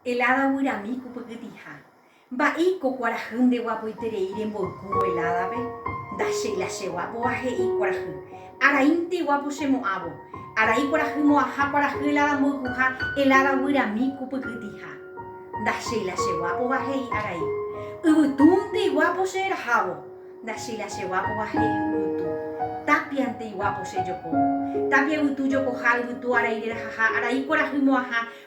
Helada guyrámi ku pykytiha. Mba'e ko kuarahy nde guapoiterei remboyku heládape? Ndache la che guapo va he'i kuarahy. Araínte guapo che mo'ãvo. Arai kuarahy mo'ãha kuarahy helada mboykuha helada guyrámi ku pykytiha. Ndache la che guapo va he'i arai. Yvytúnte iguapo che erahávo. Ndache la che guapo va he'i yvytu. Tápiante iguapo che joko. Tápia yvytu jokoha yvytu arai rerahaha arai kuarahy mo'ãha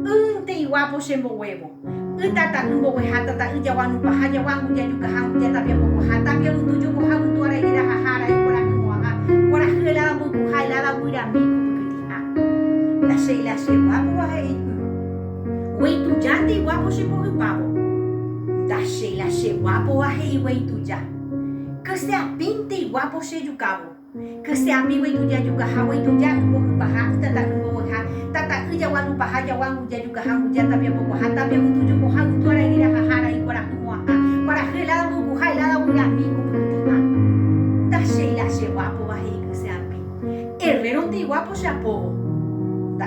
Ýnte iguápo che mboguévo. Y tata'y mbogueha, tata'y jagua nupaha, jagua angujajukaha, angujatapia mboguaha, tapia yvytu jukoha, yvytu arairerahaha, arai kuarahy mo'ãha, kuarahy helada mboypuha, helada guyrambi ipypykytiha. La che, la che guápova he'i, Y. Guei tujánte iguápo che mbohypávo. La che, la che guápova he'i guei tuja. Kyse apínte iguápo che jukávo. Kyse amígui tujajukaha voi tuja ymbohypaha ytata ymbovoyha tata'y jagua nupaha jagua nguja jukaha nguja tapia pokuaha tapia gutu jokoha gutu araireraha ha arai kuarahy mo'ãha kuarahy helada mboykuha helada guyami kupytýma Ndachéi la che guápova he'i kyse ambi Errero ndy guápo che apóvo Nda